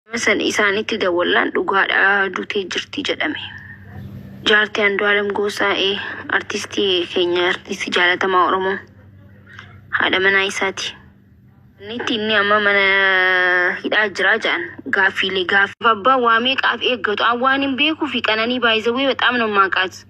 Nama san isaanitti dawwallaan dhugaadha dutee jirti jedhame. Jaartii Andu'aalam Goosaa ee artistii keenya artistii jaalatamaa Oromoo haadha manaa isaati. Nitti inni amma mana hidhaa jiraa jedhan gaaffiilee gaaffiif abbaan waa meeqaaf eeggatu an waan hin beekuu fi qananii baay'isawwee bexaam nan maaqaas.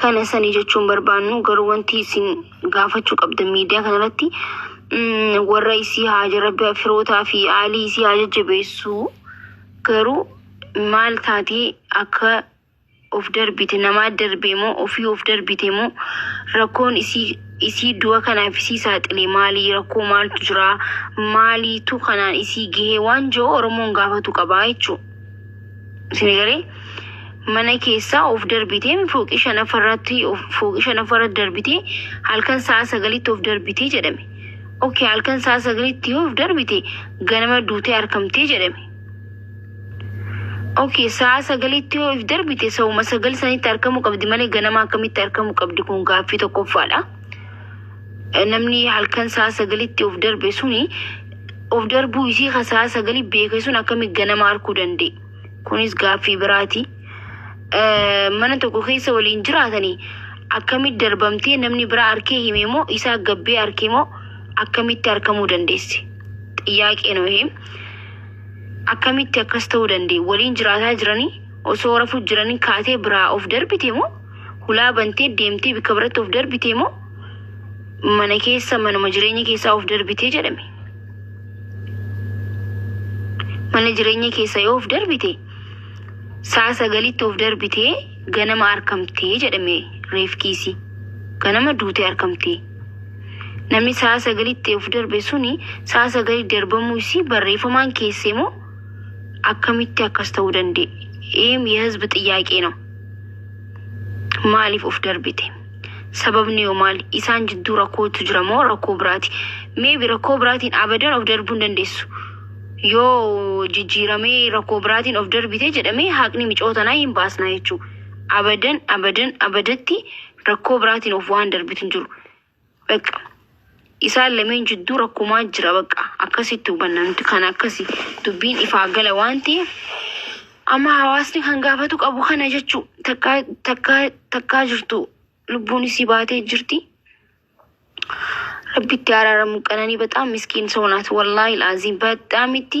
kana sani jechuun barbaannu garuu wanti isin gaafachuu qabdan miidiyaa kanarratti mm, warra isii haa jarabbi firootaa fi aalii isii haa jajjabeessuu garuu maal taatee akka of darbite namaa darbee moo ofii of darbite moo rakkoon isii isii du'a kanaaf isii saaxile maalii rakkoo maaltu jira maaliitu kanaan isii gahee waan jiru oromoon gaafatu qabaa jechuudha. Sinigalee mana keessaa of darbitee fooqii shanaffarratti fooqii shanaffarratti darbitee halkan sa'a sagalitti of darbitee jedhame. Oke halkan sa'a sagalitti yoo of darbite ganama duutee arkamtee jedhame. Oke sa'a sagalitti yoo of darbite sa'uma sagal sanitti arkamuu qabdi malee ganama akkamitti arkamuu qabdi kun gaaffii tokkoffaadha. namni halkan sa'a sagalitti of darbe suni of darbuu isii ka sa'a sagali beeke sun akkami ganama arkuu danda'e kunis gaaffii biraati Eh, mana tokko keessa waliin jiraatanii akkamitti darbamtee namni biraa arkee hime moo isaa gabbee arkee moo akkamitti arkamuu dandeesse xiyyaaqee nu him akkamitti akkas ta'uu danda'e waliin jiraataa jiranii osoo rafuu jiranii kaatee biraa of darbite moo hulaa bantee deemtee bakka biratti of darbitee moo mana keessa manuma jireenya keessaa of darbitee jedhame. Mana jireenya keessa yoo of darbite sa'a sagalitti of darbitee ganama arkamtee jedhame reefkiisii. Ganama duutee arkamtee. Namni sa'a sagalitti of darbe suni sa'a sagalii darbamuu isii barreeffamaan keessee moo akkamitti akkas ta'uu danda'e? Eem የህዝብ ጥያቄ ነው። maaliif of darbite? Sababni yoo maali? Isaan jidduu rakkootu jira moo rakkoo biraati? Meebi rakkoo biraatiin abadan of darbuu hin dandeessu. Yoo jijjiiramee rakkoo biraatiin of darbite jedhamee haqni micoo tanaa hin baasna jechuudha. Abadan abadan abadatti rakkoo biraatiin of waan darbitu hin jiru. Bakka isaan lameen jidduu rakkumaa jira bakka akkasitti hubanna nuti kan akkasi dubbiin ifaa gala waan ta'eef amma hawaasni kan gaafatu qabu kana jechuu takkaa takkaa takkaa jirtu lubbuun isii baatee jirti. Rabbitti araaramu qananii bexaam miskiin soo naat wallaahi laaziim bexaamitti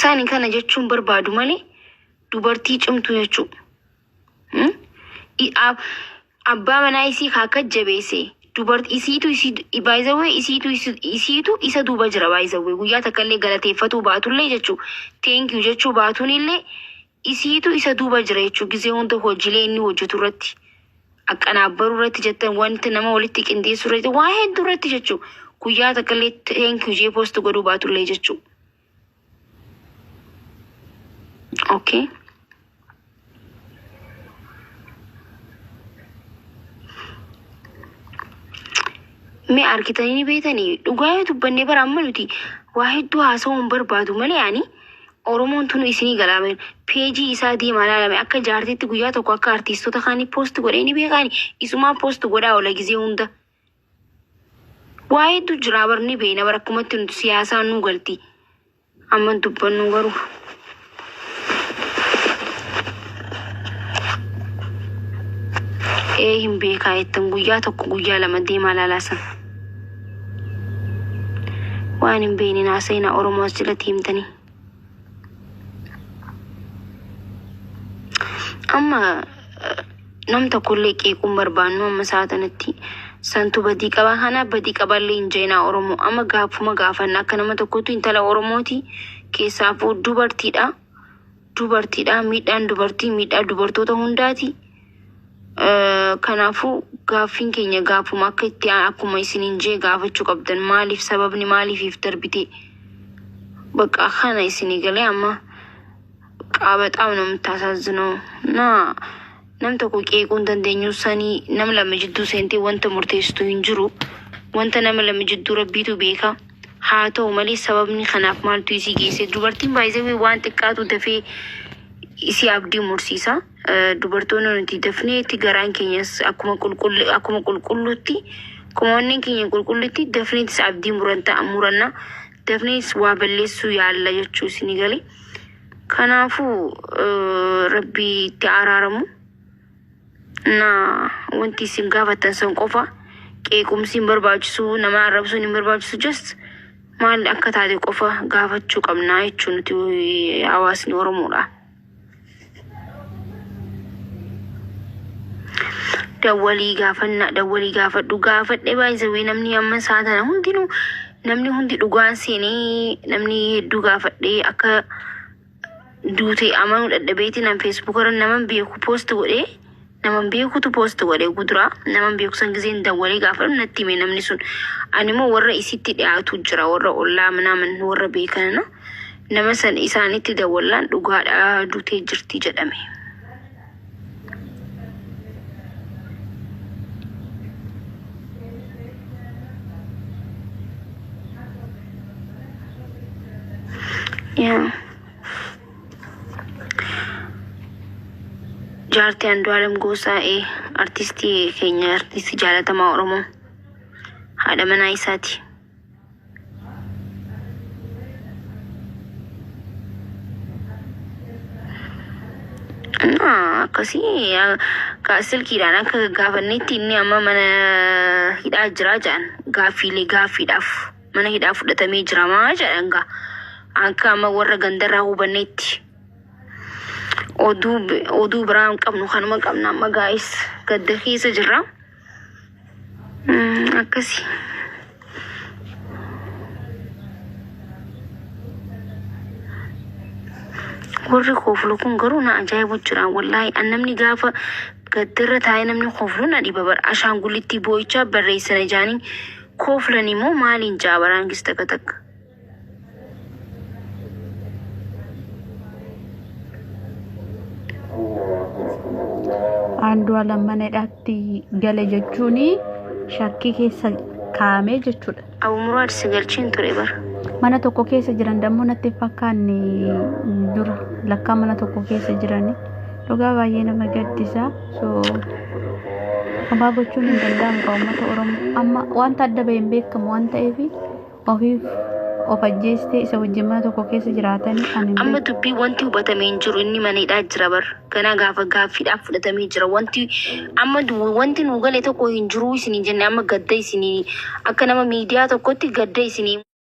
Sani kana jechuun barbaadu malee dubartii cimtu jechuu. Hmm? I- a- Abbaa manaa isii kaa akka jabeesse dubartii isiitu isii baay'isawwee isiitu isi- isiitu isa duuba jira baay'isawwee guyyaa takka illee galateeffatuu baatullee jechuu teenkiyu jechuu baatuun illee Isiitu isa duuba jira jechuun gizee hunda hojiilee inni hojjetu irratti aqanaabbaruu irratti jettan wanti nama walitti qindeessuu irratti waa hedduu irratti jechuu guyyaa takka illee thank you jee post godhuu baatu illee jechuu. Okay. Mee argitanii ni beektanii dhugaa yoo dubbanne bara amma nuti waa hedduu haasawuu hin barbaadu malee ani Oromoon tunu isinii galaa mee. Page isaa deemaa laala mee akka jaartiitti guyyaa tokko akka artiistota kaanii post godhee ni beekaani isumaa post godhaa ola gizee hunda. Waa hedduu jiraa bar ni beeyna bar akkumatti nuti siyaasaa nuu galti. Amma hin dubbannu garuu. Ee hin beekaa jettan guyyaa tokko guyyaa lama deemaa laalaa san. Waan hin beekne naa seenaa Oromoo as jalatti himtanii. Amma eh, nam tokkollee qeequun barbaannu amma sa'a tanatti santu badii qaba kana badii qaballee hin jeenaa Oromoo amma gaafuma gaafanna akka nama tokkotti intala Oromooti keessaafuu dubartiidha. dubartiidha. Miidhaan dubartii miidhaa dubartoota hundaati. Eh, Kanaafuu gaaffiin keenya gaafuma akka itti aan- akkuma isiniin jee gaafachuu qabdan maaliif sababni maaliifiif darbite bakka kana isinii galee amma qaabaxaam namtaasaazzinoo naa Nam tokko qeequu hin dandeenyu, sani nam lama jidduu seentee wanta murteessitu hin jiru. Wanta nama lama jidduu Rabbiitu beeka. Haa ta'u malee sababni kanaaf maaltu isii geesse? Dubartiin baay'isawee waan xiqqaatu dafee isii abdii mursiisa. Eh, Dubartoonni nuti dafneetti garaan keenyas akkuma qulqullu- akkuma qulqulluutti akkuma onneen keenya qulqulluutti dafneetis abdii muranta- muranna dafnees waa balleessuu yaalla jechuu isinii galee. Kanaafuu rabbii itti araaramu na wanti isin gaafattan san qofa qeequmsi hin barbaachisu nama arrabsuun hin barbaachisu just maal akka taate qofa gaafachuu qabnaa jechuu nuti hawaasni oromoodha. Dawwalii gaafanna dawwalii gaafadhu gaafadhe baay'isa wee namni amma saatana hundinuu Namni hundi dhugaan seenee namni hedduu gaafadhee akka duute amanuu dadhabeeti nan feesbuuk irra naman beeku poost godhe naman beekutu poost godhe gudura naman beeku san giseen dawwalee gaafadhu natti hime namni sun ani immoo warra isitti dhiyaatu jira warra ollaa manaaman warra beekanana nama san isaanitti dawwallaan dhugaadha duutee jirti jedhame. Yaa. Jaartii Andu'aalam Goosaa ee artistii keenya artistii jaalatamaa Oromoo haadha manaa isaati. Naa, akkasii ah, ka- silkiidhaan akka gaafannetti inni amma mana hidhaa jira jedhan gaaffiilee gaaffiidhaaf mana hidhaa fudhatamee jiramaa jedhan gaa akka amma warra gandarraa hubannetti oduu bi- oduu biraa hin qabnu kanuma qabna amma gaa'is gadda keessa jirra. akkasi warri kooflu kun garuu na ajaa'ibu jira wallaahi an namni gaafa gaddarra taa'ee namni kooflu na dhiba bara ashaangulittii boo'ichaa barreessina jaanii kooflan immoo maaliin jaa baraan gis takka takka Andu'aalam mana hidhaatti gale jechuun shakkii keessa kaa'amee jechuudha. Abu Muraad si galchiin ture bara. Mana tokko keessa jiran dammoo natti hin fakkaanne dura lakkaa mana tokko keessa jirani. Dhugaa baay'ee nama gaddisa. So homaa gochuun hin danda'amu kan uummata Oromoo. Amma wanta adda bahee hin beekamu waan ta'eef ofiif of ajjeestee isa wajjin mana tokko keessa jiraatan ani hin Amma beeku. dubbii wanti hubatame hin jiru inni mana hidhaa jira bar ganaa gaafa gaaffiidhaaf fudhatamee jira wanti amma du- wanti nu gale tokko hin jiru isinii jenne amma gadda isinii akka nama miidiyaa tokkotti gadda isinii